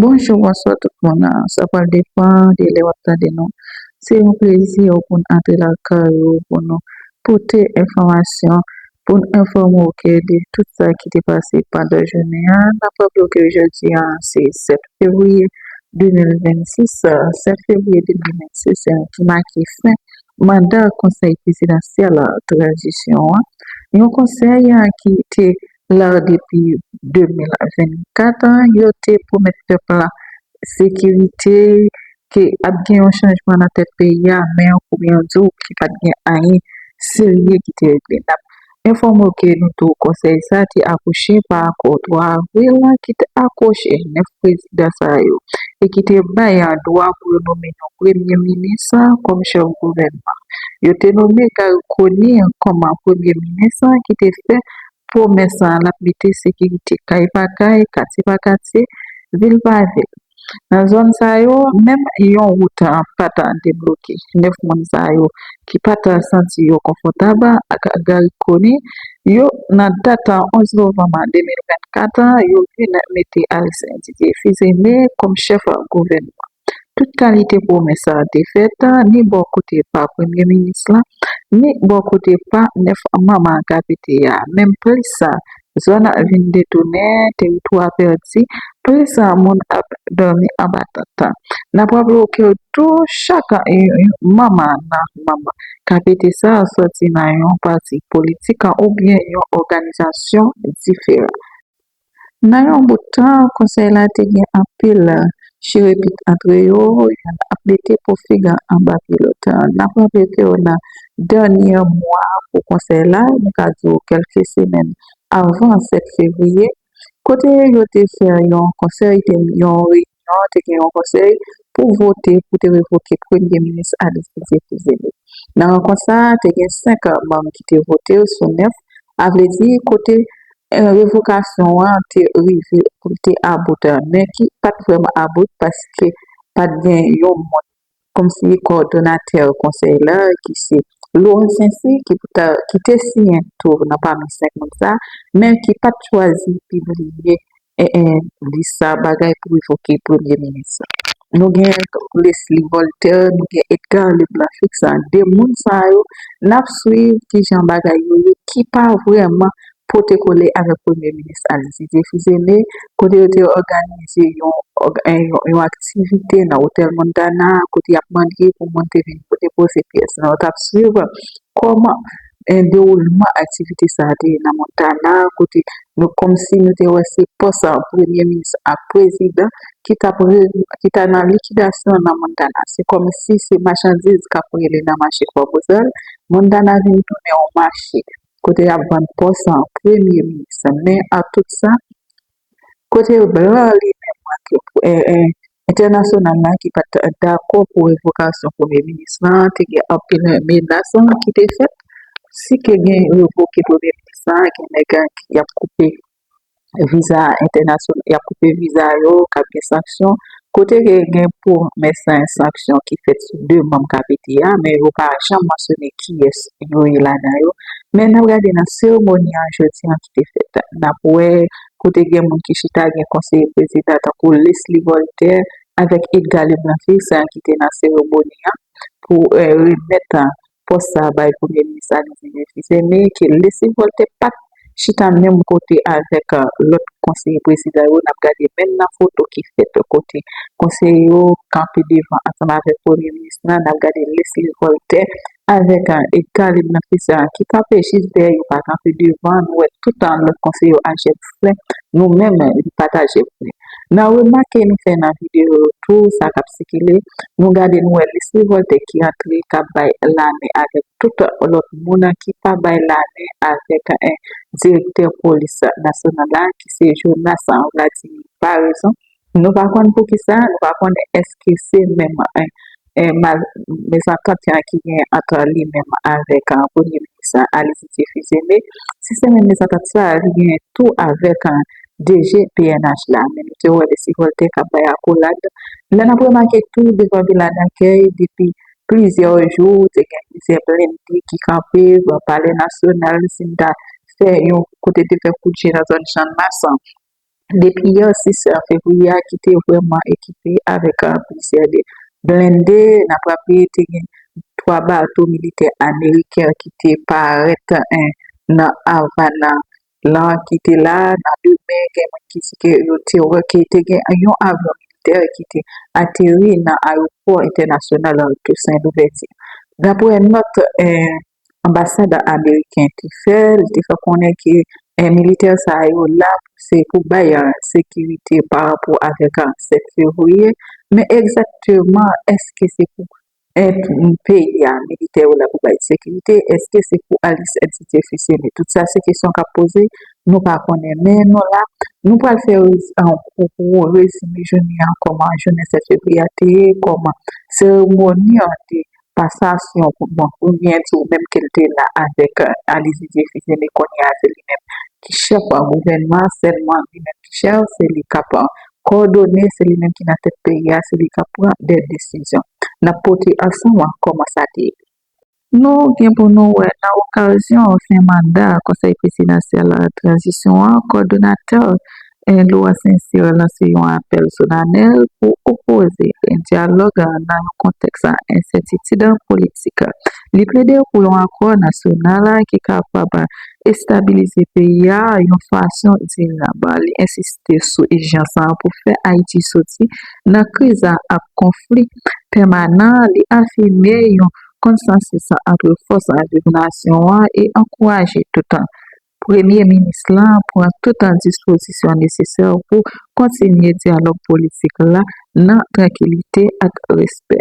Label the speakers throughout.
Speaker 1: Bonjou bonswa tout moun sa pral depan de lè wap tande nou se yon plezi pou n antre nan kay ou pou nou pote enfòmasyon pou n enfòme w ke de tout sa ki te pase pandan jounen an n ap raple w ke jodi a se 7 fevriye 2026 7 fevriye 2026 se yon jou ki make fen manda konsèy prezidansyèl tranzisyon an, yon konsèy ki te la depi 2024, yo te pwomèt pèp la sekirite, ke ap gen yon chanjman nan tèt peyi a, men yo kouri an di w ki pat gen anyen serye ki te regle. Enfòme w ke nou tou konsèy sa te akouche pa akò 3 avril la ki te akwoche 9 prezidan sa yo e ki te bay an dwa pou yo nome yon premye minis kòm chèf gouvènman. Yo te nome Garry Conille kòm premye minis ki te fè pwomès lap mete sekirite kay pa kay, katye pa katye, vil pa vil. Nan zòn sa yo, menm yon wout pa ta debloke. 9 moun sa yo ki pa ta santi yo konfòtab ak Garry Conille yo nan dat 11 novanm 2024 an, yo vin mete Aristin Didier Fils Aimé kòm chèf gouvènman. Tout kalite pwomès te fèt ni bò kote pa premye minis la, ni bò kote pa 9 manm KPT a, menm plis Zòn an vin detounen, teritwa pèdi, plis moun ap dòmi anba tant. N ap raple w ke tou chak yon manm nan manm KPT sa soti nan yon pati politik oubyen yon òganizasyon diferan. Nan yon bout tan, konsèy la te gen anpil chire pit antre yo, youn ap mete po fig an anba pye lòt. N ap raple ke w nan dènyè mwa pou konsèy la, nou ka di w kèlke semèn avan 7 fevriye, kote yo te fè yon konsèy, te gen yon reyinyon, te gen yon konsèy pou vote pou te revoke premye minis Aly Didier Fils-Aimé. Nan rankont sa a, te gen 5 manm ki te vote sou 9, a vle di kote Revokasyon an te rive pou l te about an, men ki pa t vrèman about paske pa t gen yon moun kòmsi kòdonatè konsèy la ki se Laurent Saincy ki te siyen tou nan pami 5 moun sa a, men ki pa t chwazi pibliye lis sa a bagay pou revoke premye minis la. nou gen Lesly Voltaire, nou gen Edgar Leblanc Félix-Saint, de moun sa yo, n ap suiv ki jan bagay yo ye, ki pa vrèman pote kole avèk Premye Minis Alexis Guy Phillipe, kote yo te òganize yon aktivite nan otèl Montana, kote y ap mande pou moun te vin poze pyès. Nou t ap suiv kòman e dewoulman aktivite sa a te ye nan Montana kote nou kòmsi nou te wè se pòs premye minis ak prezidan ki t ap ki ta nan likidasyon nan Montana. Se kòmsi se machandiz k ap rele nan mache Fò Bozòy. Montana vin tounen yon mache kote y ap vann pòs premye minis. Men ak tout sa, Kote blan an li menm manke pou entènasyonal la ki pa t dakò pou revokasyon premye minis lan, te gen anpil menas ki te fèt si ke gen revoke premye minis la gen nèg y ap koupe viza entènasyonal, y ap koupe viza yo, k ap gen sanksyon. Kote ke gen pwomès sa yon sanksyon ki fèt sou 2 manm KPT a, men yo pa janm mansyone kiyès yo ye ladan yo. Men n ap gade nan seremoni an jodi an ki te fèt, n ap wè kote gen moun ki chita, gen konseye prezidan tankou Lesly Voltè avèk Edga Leblanc Fils ki te nan seremoni an pou remèt Pòs sa a bay Premye Minis Alizé Nefi Zeme ke lese vòlte pat chita menm kote avèk lòt konseye prezidan yo, n ap gade menm nan foto ki fèt kote konseye yo kanpe devan ansanm avèk Premye Minis lan, n ap gade Lesly Voltè avèk Edgar Leblanc-Fissant ki kanpe jis dèyè yo pa kanpe devan, nou wè tout lòt konseye yo a jèn fre, nou menm li pat a jèn fre. Nan remake nou fè nan videyo yo tou sa k ap sikile, nou gade nou wè lis revòlte ki antre k ap bay lame avèk tout lòt moun ki pa bay lame avèk direktè polis nasyonal la ki se Jonas Vladimir Paraison. Nou pa konn poukisa, nou pa konn èske se menm mezantant yan ki gen ant li menm avèk premye minis la Ali Didié Fils-Aimé, si se menm mezantant sa a li genyen tou avèk DG pnh la, men nou te wè Lesy Voltaire k ap bay akolad. Lè n ap remake tou devan Vila Dakèy depi plizyè jou te gen plizyè blennde ki kanpe devan palè nasyonal si n ta fè yon kote te fè kout je nan zòn Channmas an Depi yè 6 fevriye a ki te vrèman ekipe avèk plizyè de blende, naprapi te gen 3 bato militè ameriken ki te parèt nan Avana lan ki te la nan demen gen moun ki di ke yo te wè ke te gen yon avyon militè ki te ateri nan ayopò entènasyonal Toussaint Louverture. Daprè nòt anbasad ameriken te fè, li te fè konnen ke militè sa yo la se pou bay sekirite pa rapò avèk 7 fevriye, men egzakteman eske se pou peyi a militè yo la pou bay sekirite, eske se pou Alis et Titie Fils-Aimé? Tout sa se kesyon k ap poze, nou pa konnen. Men nou la, nou pral fè yon rezime jounen an, kòman jounen 7 fevriye a te ye, kòman seremoni an te ye. Pasasyon pou bon oubyen tou menm ke l te la avèk Aly Didier Fils Aimé kounye a se li menm ki chèf gouvènman an sèlman li menm ki chèf se li k ap kòdone se li menm ki nan tèt peyi a se li k ap pran dè desizyon n ap pote ansanm an kòman sa te ye. Nou gen pou nou wè nan okazyon fen manda konsèy prezidansyèl tranzisyon an kòdonatè Eloi Sincere lanse yon apèl solanèl pou opoze e dyalòg nan yon kontèks ensètitid politik. Li plede pou yon akò nasyonal ki kapab estabilize peyi a yon fason dirab. Li ensiste sou ijans pou fè Ayiti soti nan kriz ak konfli pèmanan. Li afime yon konsansis antre fòs viv nasyon an e ankouraje tout Premye minis la pran tout dispozisyon nesesè pou kontinye dyalòg politik la nan trankilite ak respè.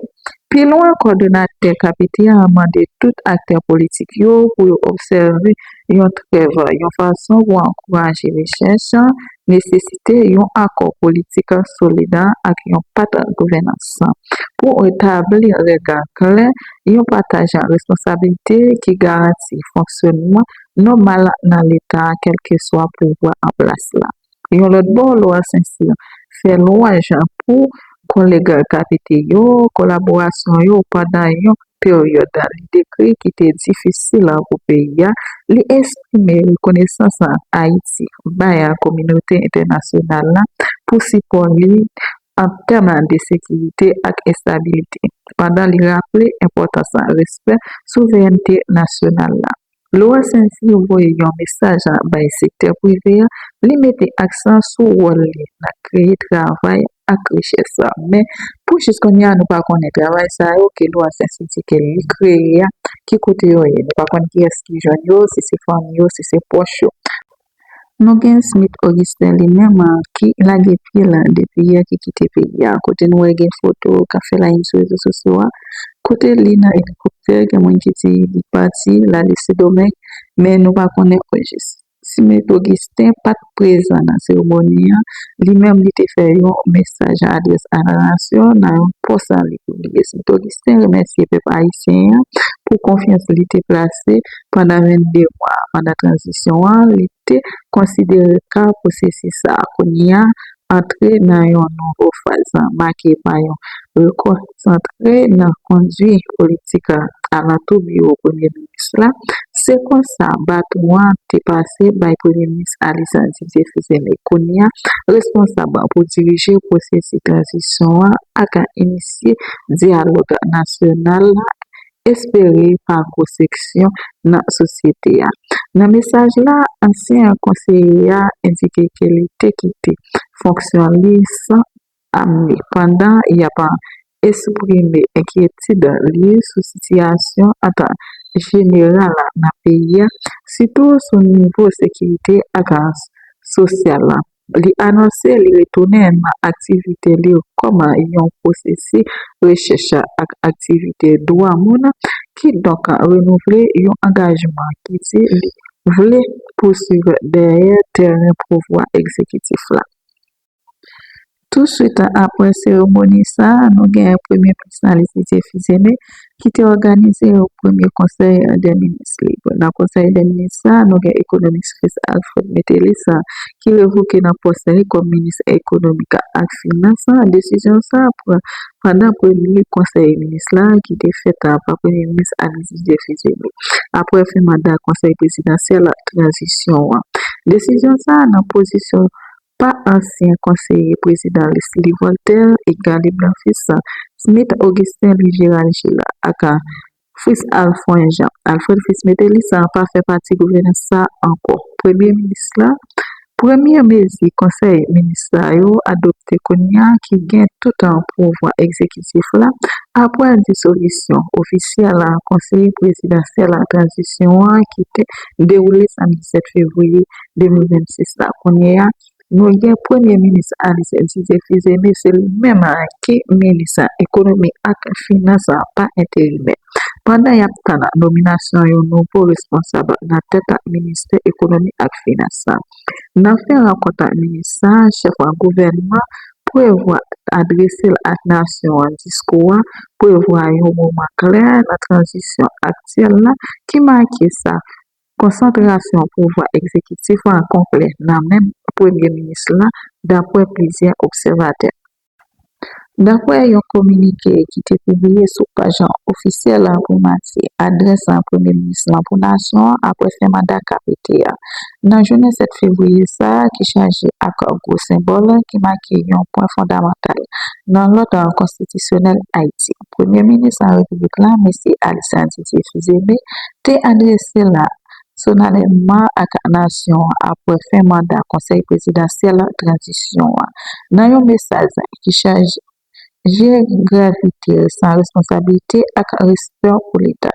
Speaker 1: Pi lwen, kòdonatè KPT a mande tout aktè politik yo pou yo obsève yon trèv yon fason pou ankouraje rechèch, nesesite yon akò politik solid ak yon pat gouvènans pou tabli règ klè, yon pataj responsabilite ki garanti fonksyònman nòmal nan Leta a kèlkeswa pouvwa an plas la. Yon lòt bò, Lwa Sencyr fè lwanj pou kòlègkapite yo, kolaborasyon yo pandan yon peryòd li dekri ki te difisil pou peyi a. Li esprime rekonesans Ayiti bay kominote entènasyonal la pou sipò li an tèm de sekirite ak estabilite, pandan li raple enpòtans respè souverènte nasyonal la. Lwa Sensi yo voye yon mesaj bay sektè prive a, li mete aksan sou wòl li nan kreye travay ak richès, men pou jis kounye a nou pa konnen travay sa yo ke lwa Sensi di ke li kreye a ki kote yo ye, nou pa konn kiyès ki jwenn yo, si se fanmi yo, si se pwòch yo. Nou gen Smith Augustin li menm ki lage pye la depi yè ki kite peyi a kote nou wè gen foto kap fè layin sou rezo sosyo a kote li nan elikoptè gen moun ki di li pati l ale Sendomeng men nou pa konnen ojis. Smith Augustin pat prezan nan seremoni an, li menm li te fè yon mesaj a adrès Anarasyon nan yon pòs an li pibliye. Smith Augustin remèsye pèp ayisyen an pou konfyans li te plase. pandan 22 mwa pandan tranzisyon an, li te konsidere ka pwosesis sa a kounye a antre nan yon nouvo faz make pa yon rekonsantre nan kondui politik alantou biwo premye minis la, se konsa baton an te pase bay premye minis Alexandre Didier Fils-Aimé, kounye a responsab pou dirije pwosesis tranzisyon an ak inisye dyalòg nasyonal espere pa gwo seksyon nan sosyete a. Nan mesaj la, ansyen konseye a endike ke li te kite fonksyon li san amni pandan y ap esprime enkyetid li sou sitiyasyon an jeneral nan peyi a, sitou sou nivo sekirite ak sosyal la. Li anonse li retounen nan aktivite li kòm yon pwofesè rechèch ak aktiviste dwa moun, kidonk renouvle yon angajman ki di li vle pouswiv dèyè tèren pouvwa egzekitif la. Touswit aprè seremoni sa, nou gen Premye Minis la Letitie Fils-Aimé ki te òganize yon premye konsèy dè minis li. Nan konsèy dè minis sa, nou gen ekonomis Chris Alfred Metellus sa ki revoke nan pòs li kòm minis ekonomi ak finans la. Desizyon sa pran pandan premye konsèy minis la ki te fèt pa premye minis Alex Didier Fils-Aimé aprè fen manda konsèy prezidansyèl tranzisyon an. Desizyon sa nan pozisyon pa ansyen konseye prezidan Leslie Voltaire et Gary Blanfils, Smith Augustin Louis Gérald Gilles ak Fritz Alfond Jean, Alfred Fils Métellus, pa fè pati gouvènans sa a ankò. Premye minis la, Premye mezi konsèy minis sa yo adopte kounye a ki gen toutan pouvwa egzekitif la apre disolisyon ofisyèl konseye prezidansyèl tranzisyon an ki te dewoule samdi 7 fevriye 2026 la kounye a, nou gen premye minis Ayisyen Didier Fils-Aimé se li menm ki minis ekonomi ak finans pa enterimè. Pandan y ap tann nominasyon yon nouvo responsab nan tèt ministè ekonomi ak finans la. Nan fen rankont ak minis sa, chèf gouvènman prevwa adrese l ak nasyon an diskou a prevwa yon moman kle nan tranzisyon aktyèl la ki make sa Konsantrasyon pouvwa egzekitif la an konplè nan men premye minis la dapwè plizyè obsèvatè. Dapwè yon kominike ki te pibliye sou paj ofisyèl primati adrès premye minis la pou nasyon an apwè fen manda KPT a nan jounen 7 fevriye sa a ki chaje ak gwo senbòl ki make yon pwen fondamantal nan lòd konstitisyonèl Ayiti. Premye Minis la Repiblik la, Mesye Alysan Didier Fils-Aimé, te adrese la solanèlman ak nasyon an apre fen manda Konsèy Prezidansyèl Tranzisyon an, nan yon mesaj ki chaje gravite, san responsablite ak respè pou Leta.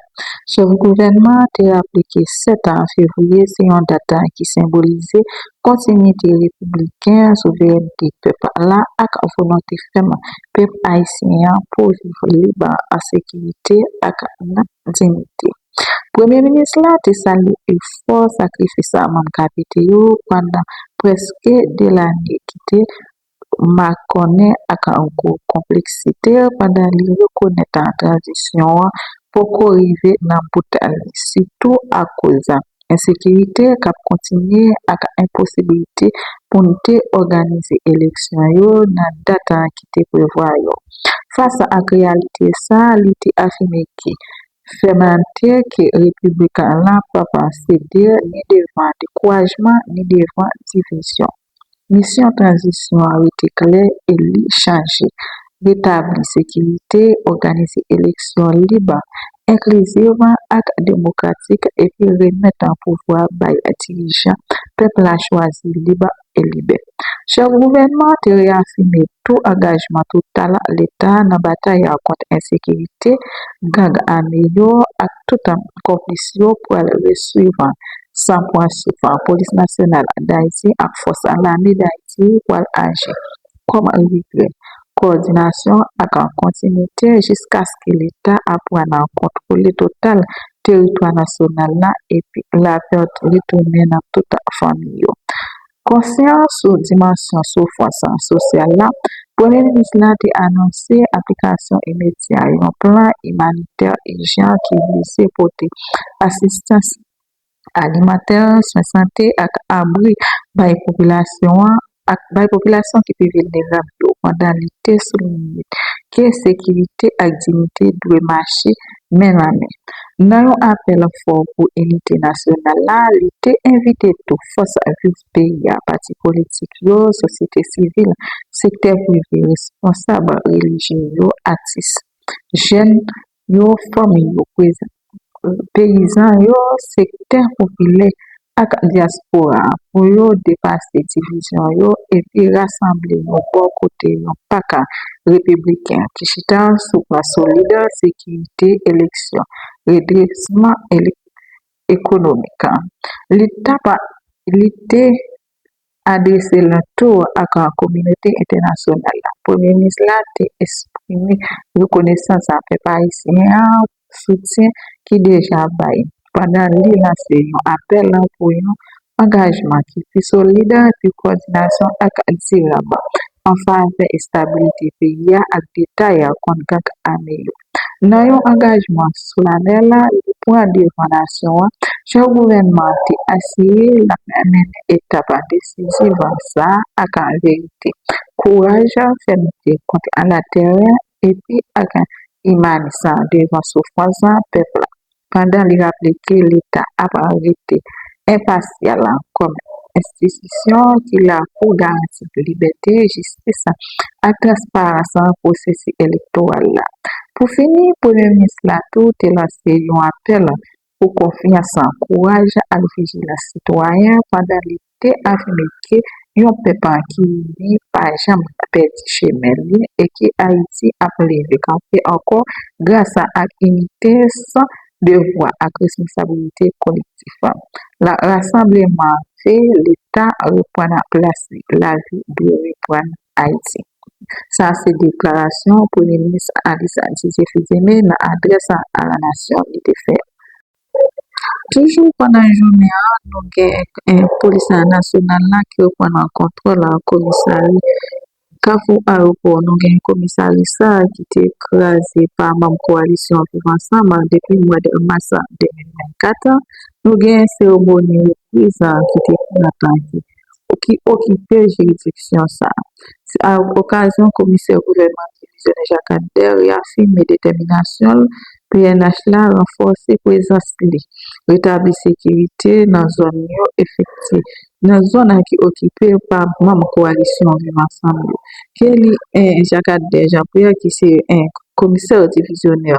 Speaker 1: Chèf gouvènman an te raple ke 7 fevriye se yon dat ki senbolize kontinyite repibliken an, souverènte pèp la ak volonte fèm pèp ayisyen an pou viv lib, an sekirite ak nan diyite. Premye minis la te salye efò sakrifis manm KPT yo pandan prèske 2 lane ki te makònen ak gwo konpleksite l pandan li rekonèt tranzisyon an poko rive nan bout li, sitou akoz ensekirite k ap kontinye ak enposiblite pou n te òganize eleksyon yo nan dat ki te prevwa yo. Fas ak reyalite sa a, li te afime ke fèmantè ke Repiblik la p ap sede ni devan dekourajman ni devan divizyon. Misyon tranzisyon an rete klè e li chanje, retabli sekirite, òganize eleksyon lib, enklizib ak demokratik epi remèt pouvwa bay dirijan pèp la chwazi lib e libè. Chèf gouvènman an te reyafime tou angajman total Leta nan batay kont ensekirite, gang ame yo ak tout konplis yo pral resuiv San pran souf, Polis Nasyonal Dayiti ak Fòs Lame Dayiti pral aji kòm abitrè, kowòdinasyon ak kontinite jiskaske Leta a pran nan kontwole total teritwa nasyonal la epi lapè retounen nan tout fanmi yo. Konsyan sou dimansyon soufrans sosyal la, Premye Minis la te anonse aplikasyon imedya yon plan imanitè ijan ki vize pote asistans alimantè, swen sante ak abri bay popilasyon an ak bay popilasyon ki pi vilnerab yo pandan li te soulinye ke sekirite ak diyite dwe mache men nan men. Nan yon apèl fò pou inite nasyonal la, li te envite tou fòs viv peyi a, pati politik yo, sosyete sivil, sektè prive, responsab relijye yo, atis, jèn, yo fanmi yo prezan peyizan yo sektè popilè ak dyaspora pou yo depase divizyon yo epi rasanble yon bò kote yon paka repibliken ki chita sou baz solid sekirite eleksyon redresman ekonomik li ta pa li te Adrese l tou ak kominote entènasyonal la, Premye Minis la te esprime rekonesans a pèp ayisyen an pou soutyen ki deja bay, pandan li lanse yon apèl pou yon angajman ki pi solid, pi kòdinasyon ak dirab an favè estabilite peyi a ak detay kont gang ame yo. Nan yon angajman solanèl li pran devan nasyon an, chèf gouvènman an te asire l ap mennen etap desiziv sa a ak verite, kouraj, fèmte kont latèrè epi ak imanis devan soufrans pèp la. pandan li raple ke Leta ap rete enpasyal kòm enstitisyon ki la pou garanti libète, jistis ak transparans nan pwosesi elektoral la. Pou fini, Premye Minis la tou te lanse yon apèl pou konfyans, kouraj ak vijilans sitwayen pandan li te afime ke yon pèp an ki ini pa janm ka pèdi chemen li e ke Ayiti ap leve kanpe ankò grasa ak inite san devwa ak responsabilite kolektif la. Rasanbleman an vle Leta reprann plas li. Lavi dwe reprann Ayiti. Sa se deklarasyon Premye Minis Alice Didier Fils-Aimé nan adrès a la nasyon li te fè. Toujou pandan jounen an nou gen polis nasyonal la ki reprann an kontwòl komisari kafou ayopò. Nou gen komisari sa a ki te kraze pa manm kowalisyon viv ansanm an depi mwa de mas 2024 an. Nou gen seremoni repriz an ki te pran tan. pou ki okipe jiridiksyon sa a. Se a yon okazyon komisè gouvènman divizyonè Jakadèr reyafime detèminasyon l pnh la ranfòse prezans li, retabli sekirite nan zòn yo efekti nan zòn an ki okipe pa manm kowalisyon Viv Ansanm yo. Ke li 1 Jakadè Jean Pierre ki se 1 komisè divizyonè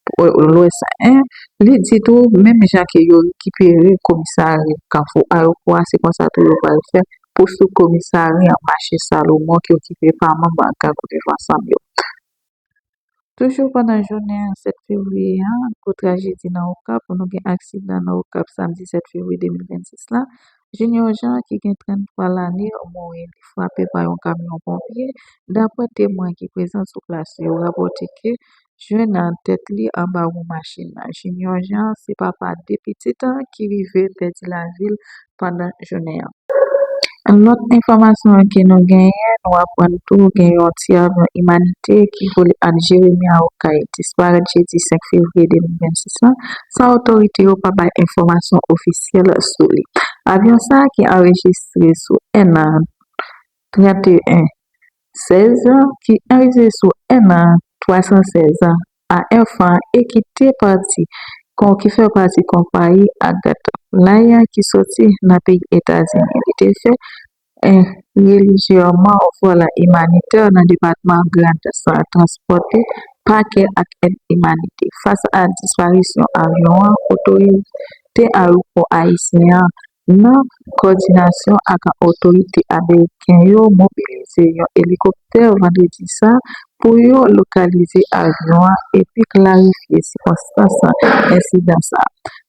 Speaker 1: Pou lwès a 1, li di tou menm jan ke yo rekipere komisari kafou ayopò a se konsa tou yo pral fè pou sou komisari an mache salomon ki okipe pa manm gang viv ansanm yo. Toujou pandan jounen 7 fevriye a, gwo trajedi nan Okap, nou gen aksidan nan Okap samdi 7 fevriye 2026 la, Junior Jean ki gen 33 lane mouri li frape pa yon kamyon ponpye, daprè temwen ki prezan sou plas yo rapòte ke jwenn nan tèt li anba wou machin nan. Junior Jean se papa 2 pitit ki rive pèdi lavi l pandan jounen an. Lòt enfòmasyon ke nou genyen, nou aprann tou gen yon ti avyon imanite ki vole ant Jeremi a Okay disparèt jedi 5 fevriye 2026 la, san otorite yo pa bay enfòmasyon ofisyèl sou li. Avyon sa ki anrejistre sou 1 nan 31 16 an ki arive sou 1 an 316 an pa enfan e ki te pati kon ki fè pati konpayi Agatha Flyer ki soti nan peyi Etazini li te fè 1 relijyèman vol imanitè nan depatman Grand san transpòte pakè ak èd imanitè fas a disparisyon avyon an otorite ayewopò ayisyen an Nan kòdinasyon ak otorite ameriken yo mobilize yon elikoptè vandredi sa pou yo lokalize avyon an epi klarifye sikonstans ensidan sa,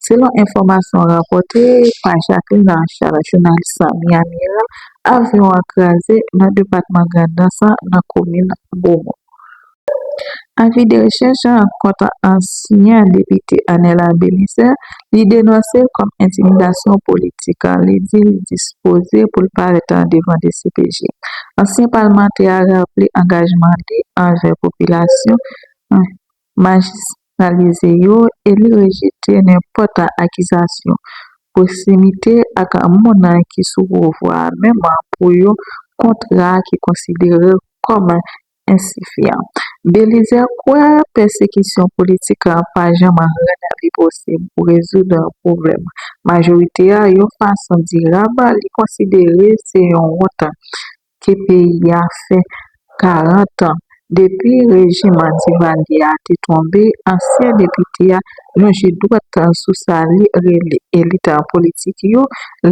Speaker 1: selon enfòmasyon rapòte pa Jacqueline Archard jounal sa Miami Herald, avyon an kraze nan depatman Grandans nan komin Beaumont. Avi de rechèch an kont ansyen depite Anela Belizaire li denonse l kòm entimidasyon politik. Li di li dispoze pou l parèt devan dcpj. Ansyen palmantè a raple angajman li anvè popilasyon majisnalize yo e li rejte nenpòt akizasyon pwosimite ak moun ki sou pouvwa a menm pou yon kontra ki konsidere l kòm Ensifiant. Belizè kwè pèsekisyon politik la pa janm rann li posib pou rezoud pwoblèm majorite a yon fason dirab, li konsidere se yon wont ke peyi a fè 40 depi rejim Divalye a te tonbe, ansyen depite a. lonje dwèt sou sa li rele elit politik yo,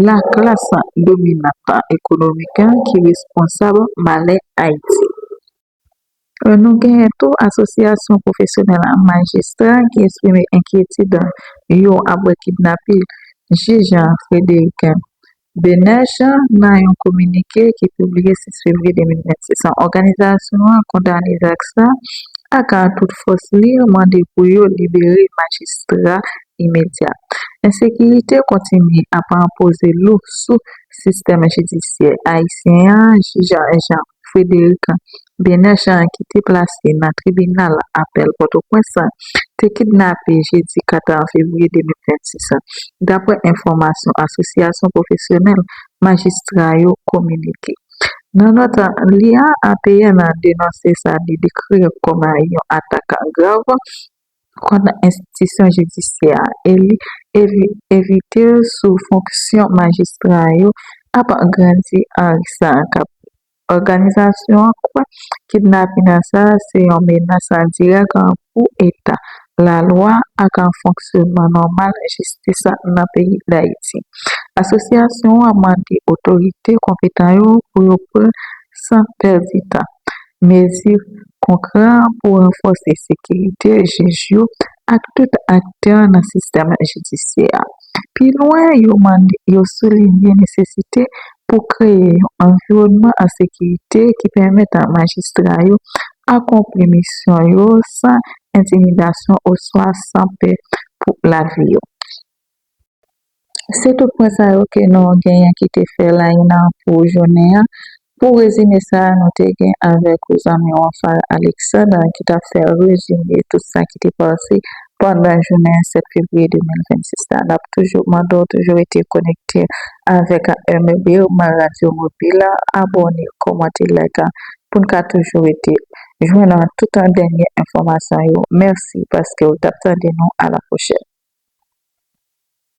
Speaker 1: laklas dominant ekonomik ki responsab malè Ayiti. Nou genyen tou asosyasyon pwofesyonèl majistra ki esprime enkyetid yo apre kidnapping jij Frédéric Bnh nan yon kominike ki pibliye 6 fevriye 2026 an, òganizasyon an kondane zak sa ak tout fòs li mande pou yo libere majistra imedya. Ensekirite kontinye ap poze lou sou sistèm jidisyè ayisyen an jij Jean. Frederica Bernard Jean ki te plase nan tribinal apèl Pòtoprens la, te kidnape jedi 4 fevriye 2026 la, daprè enfòmasyon asosyasyon pwofesyonèl majistra yo kominike. Nan nòt li a, APN denonse sa li dekri kòm yon atak grav Sispann nan enstitisyon jidisyè a e li evite l sou fonksyon majistra yo ap angrandi anri sa a k ap. Òganizasyon an kwè kidnapina sa a se yon menas endirèk pou eta lalwa ak fonksyonman nòmal jistis nan peyi Dayiti. Asosyasyon an mande otorite konpetan yo pou yo pran san pèdi tan Mezi konkrè pou ranfòse sekirite jij yo ak tout aktè nan sistèm jidisyè a. Pi lwen, yo mande yo soulinye nesesite pou kreye yon anviwònman an sekirite ki pèmèt majistra yo akonpli misyon yo san entimidasyon oswa san pè pou lavi yo. Se tout pwen sa yo ke nou genyen ki te fè Laina pou jounen an. Pou rezime sa a nou te gen avèk ou zanmi ou Anfal Alexandre ki t ap fè rezime tout sa ki te pase pandan jounen 7 fevriye 2026 la. N ap toujou mande w toujou rete konekte avèk AMB, Radyo Mobile, abòne, kòmante, like pou n ka toujou rete. jwenn an tout an dènye enfòmasyon yo mèsi paskew tap tande nou a la pwochèn.